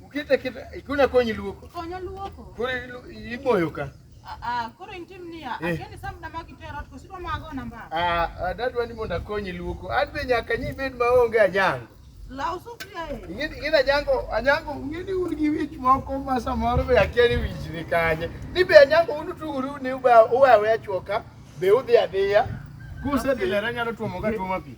Ukite kita ikuna konyi luoko. Konyo luoko. Kuri iboyo ka. Ah, ah koro intim niya, eh. akeni sam na magi tero to sidwa mago namba. Ah, ah dadwa ni mondo akonyi luoko. An be nyaka nyi bed maonge anyango. Law sufria e. Ing'e ing'e anyango anyango ing'e ni un gi wich moko ma samoro be akia ni wich ni kanye. Ni be anyango un utuguru ni uba uwe awe achuoka be udhi adhiya. Kusedhi lera nyalo tuomo ka tuomo pi.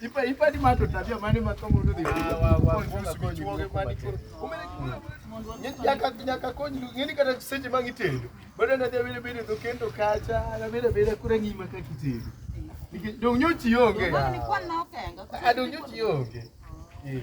Ipa ipa ni mato tabia mane makomo ndo dhi. Nyaka nyaka kony ngeni kata seche ma ngitendo. Bado na dhi bile bile kendo kacha, na bile bile kure ngima ka kitendo. Nikech dong nyochi onge. Adong nyochi onge. Eh.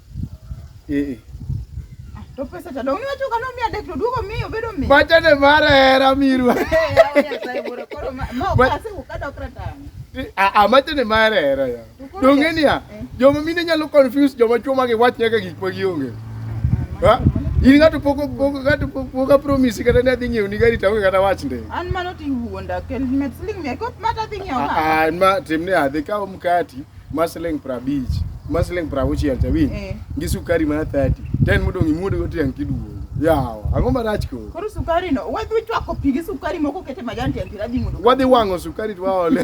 Eh. Ah, to pesa to dong' niwacho kano miya dek to duogo miyo bedo miyo. Pacha ne mar hera mirwa. Amacha ne mar hera ya. Donge niya, eh. joma mine nyalo confuse joma chwo ma giwach nyaka gik ma gionge. Ha? in ng'ato pok ng'ato pok apromisi kata ne adhi ng'iewo ni gari taonge kata wach nde an mano tiwuonda kel met siling mia kop mata dhi ng'iewo an ma timne adhi kawo mkati ma siling prabich ma siling prauchiel cha winj Eh. gi sukari mana 30 ten modong' imuodo go tiang' kiduogo yawa ang'o marach koro Koro sukari no, wadhi chwako pigi sukari moko kete majan tiang' tiradhi mondo. wadhi wang'o sukari to waole